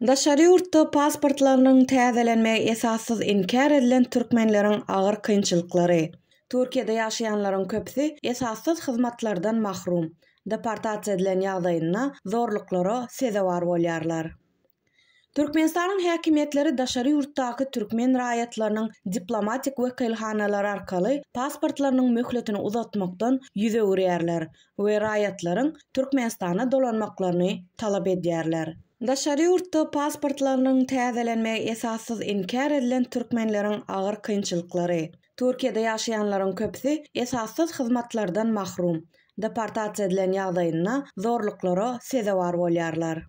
Daşary ýurtda pasportlarynyň täzelenmegi esassyz inkär edilen türkmenleriň agyr kynçylyklary. Türkiýede ýaşaýanlaryň köpüsi esassyz hyzmatlardan mahrum, deportasiýa edilen ýagdaýynda zorluklara sezewar bolýarlar. Türkmenistanyň häkimiýetleri daşary ýurtdaky türkmen raýatlarynyň diplomatik wekilhanalar arkaly pasportlarynyň möhletini uzatmakdan ýüz öwürýärler we raýatlaryň Türkmenistana dolanmaklaryny talap edýärler. Daşary ýurtda pasportlarynyň täzelenmegi esassyz inkär edilen türkmenleriň agyr kynçylyklary, Türkiýede ýaşaýanlaryň köpüsi esassyz hyzmatlardan mahrum, deportasiýa edilen ýagdaýynda zorluklara sezewar bolýarlar.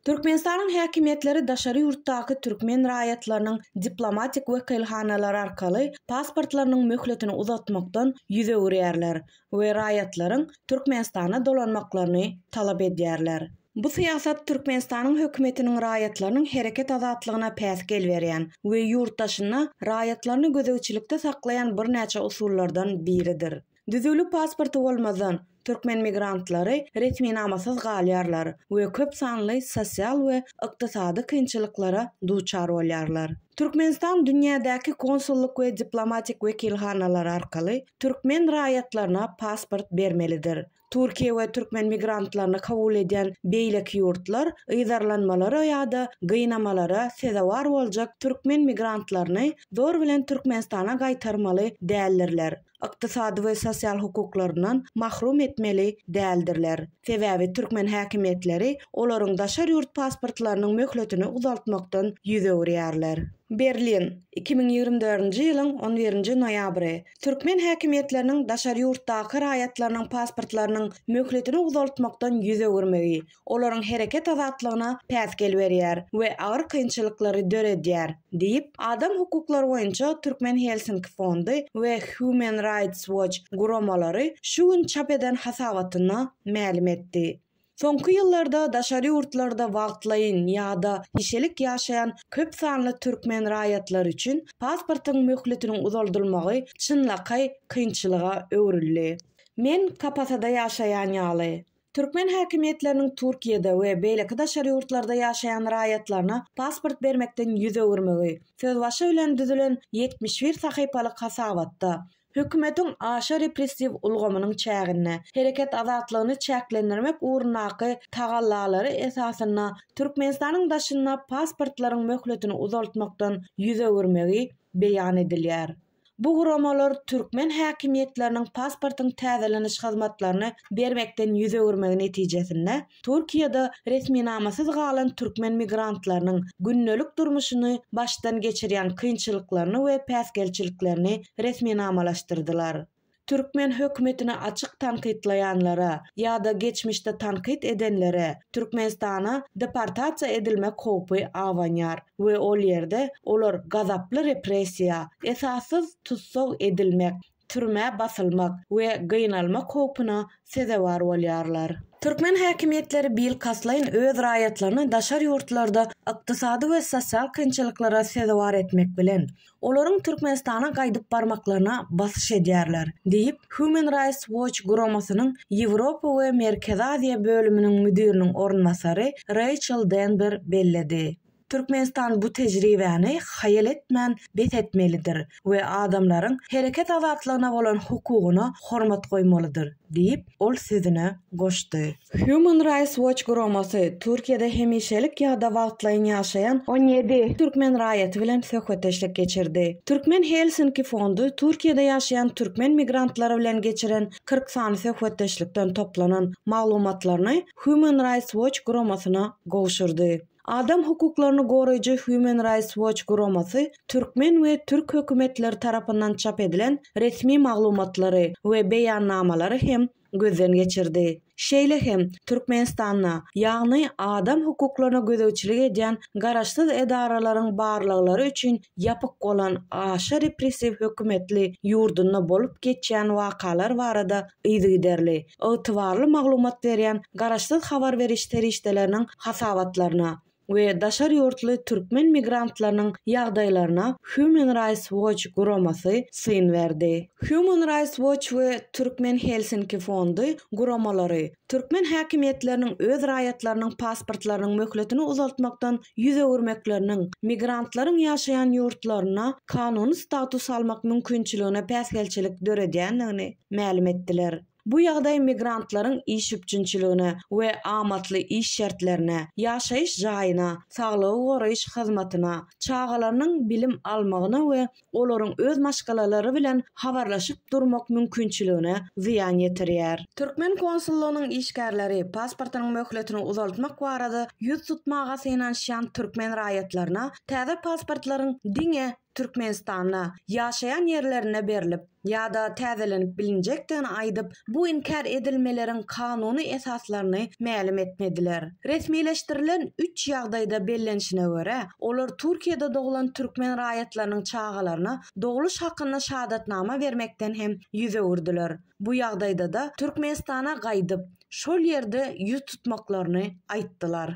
Türkmenistanyň häkimiýetleri daşary ýurtdaky türkmen raýatlarynyň diplomatik wekilhanalar arkaly pasportlarynyň möhletini uzatmakdan ýüz öwürýärler we raýatlaryň Türkmenistana dolanmaklaryny talap edýärler. Bu syýasat Türkmenistanyň hökümetiniň raýatlarynyň hereket azatlygyna päsgel berýän we ýurt daşynda raýatlaryny gözegçilikde saklaýan birnäçe usullardan biridir. Düzüwli pasporty bolmazdan, türkmen migrantlary resminamasyz galýarlar we köp sanly sosial we ykdysady kynçylyklara duçar bolýarlar. Türkmenistan dünýädäki konsullyk we diplomatik wekilhanalary arkaly türkmen raýatlaryna pasport bermelidir. Türkiýe we türkmen migrantlaryny kabul edýän beýleki ýurtlar yzarlanmalara ýa-da gynamalara sezewar boljak türkmen migrantlaryny zor bilen Türkmenistana gaýtarmaly däldirler. ykdysady we sosial hukuklaryndan mahrum etmeli däldirler. Sebäbi türkmen häkimiýetleri olaryň daşary ýurt pasportlarynyň möhletini uzaltmakdan ýüz öwürýärler. Berlin, iki müň ýigrimi dördünji ýylyň on birinji noýabry. Türkmen häkimiýetleriniň daşary ýurtdaky raýatlarynyň pasportlarynyň möhletini uzaltmakdan ýüz öwürmegi, olaryň hereket azatlygyna päsgel berýär we agyr kynçylyklary döredýär, diýip, adam hukuklary boýunça Türkmen Helsinki fondy we Human Rights Watch guramalary şu gün çap eden hasabatynda mälim etdi. Soňky ýyllarda daşary ýurtlarda wagtlaýyn ýa-da gişelik ýaşaýan köp sanly türkmen raýatlary üçin pasportyň möhletiniň uzaldylmagy çynlakaý kynçylyga öwrüldi. Men Kapatada ýaşaýan ýaly. Türkmen häkimiýetleriniň Türkiýede we beýleki daşary ýurtlarda ýaşaýan raýatlaryna pasport bermekden ýüz öwürmegi, sözbaşy bilen düzülen ýetmiş bir sahypalyk hasabatda, hökümetiň aşa repressiw ulgamynyň çäginde, hereket azatlygyny çäklendirmek ugrundaky tagallalary esasynda Türkmenistanyň daşynda pasportlaryň möhletini uzaltmakdan ýüz öwürmegi beýan edilýär. Bu guramalar türkmen häkimiýetleriniň pasportyň täzeleniş hyzmatlaryny bermekden ýüz öwürmegi netijesinde, Türkiýede resminamasyz galan türkmen migrantlarynyň gündelik durmuşyny başdan geçirýän kynçylyklaryny we päsgelçiliklerini resminamalaşdyrdylar. Türkmen hökümetini açyk tankytlaýanlara ýa-da geçmişde tankyt edenlere Türkmenistana deportasiýa edilmek howpy abanýar we ol ýerde olar gazaply repressiýa, esassyz tussag edilmek, türmä basylmak we gynalmak howpuna sezewar bolýarlar. Türkmen häkimiýetleri bilkastlaýyn öz raýatlaryny daşary ýurtlarda ykdysady we sosial kynçylyklara sezewar etmek bilen, olaryň Türkmenistana gaýdyp barmaklaryna basyş edýärler, diýip, Human Rights Watch guramasynyň Ýewropa we Merkezi Aziýa bölüminiň müdiriniň orunbasary Reýçel Denber belledi. Türkmenistan bu tejribäni haýal etmän bes etmelidir we adamlaryň hereket azatlygyna bolan hukugyna hormat goýmalydyr, diýip, ol sözüne goşdy. Human Rights Watch guramasy Türkiýede hemişelik ýa-da wagtlaýyn ýaşaýan on ýedi türkmen raýaty bilen söhbetdeşlik geçirdi. Türkmen Helsinki fondy Türkiýede ýaşaýan türkmen migrantlary bilen geçiren kyrk sany söhbetdeşlikden toplanan maglumatlaryny Human Rights Watch guramasyna gowşurdy. Adam hukuklaryny goraýjy Human Rights Watch guramasy türkmen we türk hökümetleri tarapyndan çap edilen resmi maglumatlary we beýannamalary hem gözden geçirdi. Şeýle hem Türkmenistanda, ýagny adam hukuklaryna gözegçilik edýän garaşsyz edaralaryň barlaglary üçin ýapyk bolan aşa repressiw hökümetli ýurdunda bolup geçýän wakalar barada yzygiderli, ygtybarly maglumat berýän garaşsyz habar beriş serişdeleriniň hasabatlaryna, we daşary ýurtly türkmen migrantlarynyň ýagdaýlaryna Human Rights Watch guramasy syn berdi. Human Rights Watch we Türkmen Helsinki fondy guramalary türkmen häkimiýetleriniň öz raýatlarynyň pasportlarynyň möhletini uzaltmakdan ýüz öwürmekleriniň migrantlaryň ýaşaýan ýurtlarynda kanuny status almak mümkinçiligine päsgelçilik döredýändigini mälim etdiler. Bu ýagdaý migrantlaryň iş üpjünçiligine we amatly iş şertlerine, ýaşaýyş jaýyna, saglygy goraýyş hyzmatyna, çagalarynyň bilim almagyna we olaryň öz maşgalalary bilen habarlaşyp durmak mümkinçiligine zyýan ýetirýär. Türkmen konsullygynyň işgärleri pasportynyň möhletini uzaltmak barada ýüz tutmaga synanyşýan türkmen raýatlaryna täze pasportlaryň diňe Türkmenistanda, ýaşaýan ýerlerinde berlip ýa-da täzelenip bilinjekdigini aýdyp, bu inkär edilmeleriň kanuny esaslaryny mälim etmediler. Resmileşdirilen üç ýagdaýda bellenişine görä, olar Türkiýede doglan türkmen raýatlarynyň çagalaryna dogluş hakynda şadatnama bermekden hem ýüz öwürdiler. Bu ýagdaýda-da Türkmenistana gaýdyp, şol ýerde ýüz tutmaklaryny aýtdylar.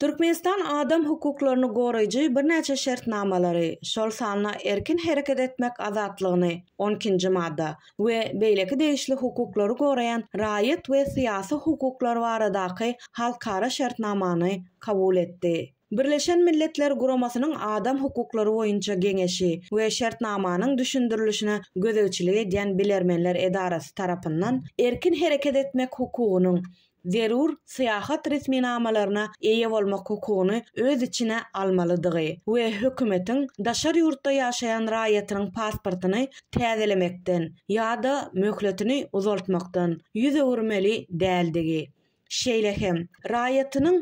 Türkmenistan adam hukuklaryny goraýjy birnäçe şertnamalary, şol sanda erkin hereket etmek azatlygyny, on ikinji madda, we beýleki degişli hukuklary goraýan raýat we syýasy hukuklar baradaky halkara şertnamany kabul etdi. Birleşen Milletler Guramasynyň Adam hukuklary boýunça geňeşi we şertnamanyň düşündirilişine gözegçilik edýän bilermenler edarasy tarapyndan erkin hereket etmek hukugynyň zerur syýahat resminamalaryna eýe bolmak hukugyny öz içine almalydygy we hökümetiň daşary ýurtda ýaşaýan raýatynyň pasportyny täzelemekden ýa-da möhletini uzaltmakdan ýüz öwürmeli däldigi, şeýle hem raýatynyň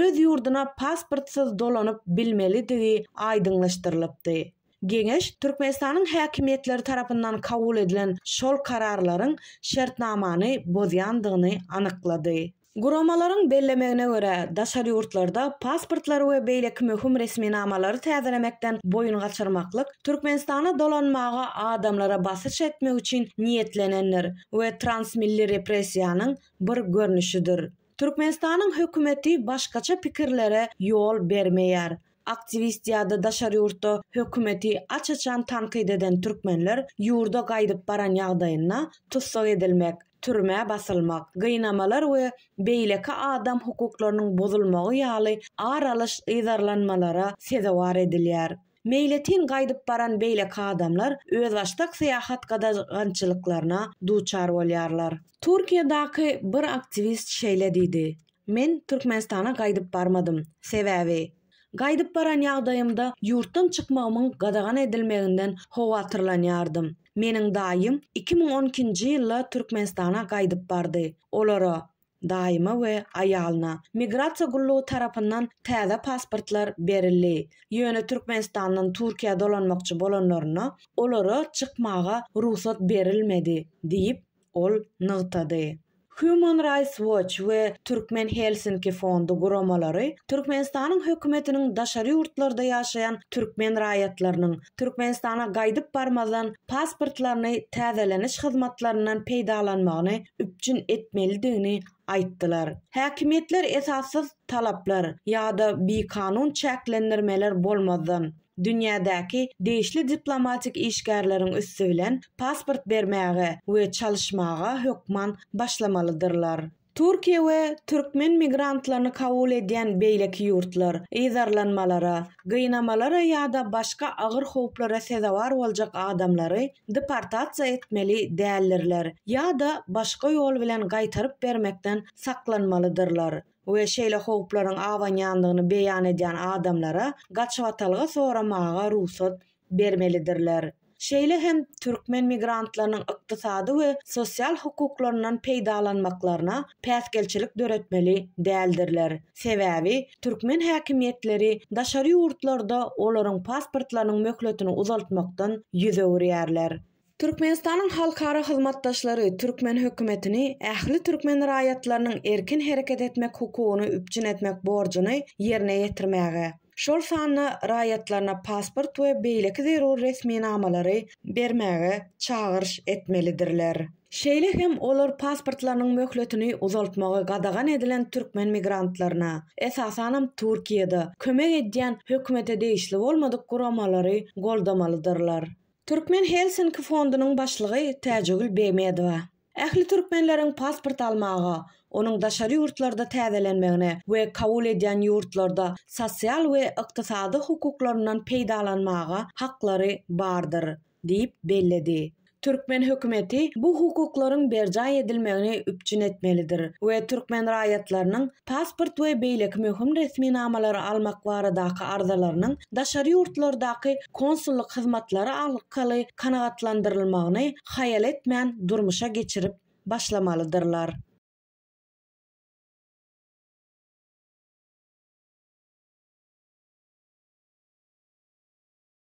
öz ýurduna pasportsyz dolanyp bilmelidigi aýdyňlaşdyrylypdy. Geňeş Türkmenistanyň häkimiýetleri tarapyndan kabul edilen şol kararlaryň şertnamany bozýandygyny anyklady. Guramalaryň bellemegine görä, daşary ýurtlarda pasportlary we beýleki möhüm resminamalary täzelemekden boýun gaçyrmaklyk Türkmenistana dolanmaga adamlara basyş etmek üçin niýetlenendir we transmilli repressiýanyň bir görnüşidir. Türkmenistanyň hökümeti başgaça pikirlere ýol bermeýär. Aktiwist ýa-da daşary ýurtda hökümeti aç-açan tankyt eden türkmenler ýurda gaýdyp baran ýagdaýynda tussag edilmek, türmä basylmak, gynamalar we beýleki adam hukuklarynyň bozulmagy ýaly ar alyş yzarlanmalara sezewar edilýär. Meýletin gaýdyp baran beýleki adamlar özbaşdak syýahat gadagançylyklaryna duçar bolýarlar. Türkiýedaky bir aktiwist şeýle diýdi, Men Türkmenistana gaýdyp barmadym. Sebäbi, gaýdyp baran ýagdaýymda ýurtdan çykmagymyň gadagan edilmeginden howatyrlanýardym. Meniň daýym iki müň on ikinji ýylda Türkmenistana gaýdyp bardy. Olara, daýyma we aýalyna, migrasiýa gullugy tarapyndan täze pasportlar berildi. Ýöne Türkmenistandan Türkiýä dolanmakçy bolanlarynda, olara çykmaga rugsat berilmedi diýip, ol nygtady. Human Rights Watch we Türkmen Helsinki fondy guramalary Türkmenistanyň hökümetiniň daşary ýurtlarda ýaşaýan türkmen raýatlarynyň Türkmenistana gaýdyp barmazdan pasportlaryny täzeleniş hyzmatlaryndan peýdalanmagyny üpjün etmelidigini aýtdylar. Häkimiýetler esassyz talaplar ýa-da bikanun çäklendirmeler bolmazdan, dünýädäki degişli diplomatik işgärleriň üsti bilen pasport bermäge we çalyşmaga hökman başlamalydyrlar. Türkiýe we türkmen migrantlaryny kabul edýän beýleki ýurtlar, yzarlanmalara, gynamalara ýa-da başga agyr howplara sezewar boljak adamlary deportasiýa etmeli däldirler ýa-da başga ýol bilen gaýtaryp bermekden saklanmalydyrlar. we şeýle howplaryň abanýandygyny beýan edýän adamlara gaçybatalga soramaga rugsat bermelidirler. Şeýle hem türkmen migrantlarynyň ykdysady we sosial hukuklaryndan peýdalanmaklaryna päsgelçilik döretmeli däldirler, sebäbi türkmen häkimiýetleri daşary ýurtlarda olaryň pasportlarynyň möhletini uzaltmakdan ýüz öwürýärler. Türkmenistanyň halkara hyzmatdaşlary türkmen hökümetini ähli türkmen raýatlarynyň erkin hereket etmek hukugyny üpjün etmek borjuny ýerine ýetirmäge, şol sanda raýatlaryna pasport we beýleki zerur resminamalary bermäge çagyryş etmelidirler. Şeýle hem olar pasportlarynyň möhletini uzaltmagy gadagan edilen türkmen migrantlaryna, esasanam Türkiýede, kömek edýän hökümete degişli bolmadyk guramalary goldamalydyrlar. Türkmen Helsinki fondunyň başlygy Täjegül Begmedowa ähli türkmenleriň pasport almaga, onuň daşary ýurtlarda täzelenmegine we kabul edýän ýurtlarda sosial we ykdysady hukuklaryndan peýdalanmaga haklary bardyr diýip belledi. Türkmen hökümeti bu hukuklaryň berjaý edilmegini üpjün etmelidir we türkmen raýatlarynyň pasport we beýleki möhüm resminamalary almak baradaky arzalarynyň daşary ýurtlardaky konsullyk hyzmatlary arkaly kanagatlandyrylmagyny haýal etmän durmuşa geçirip başlamalydyrlar.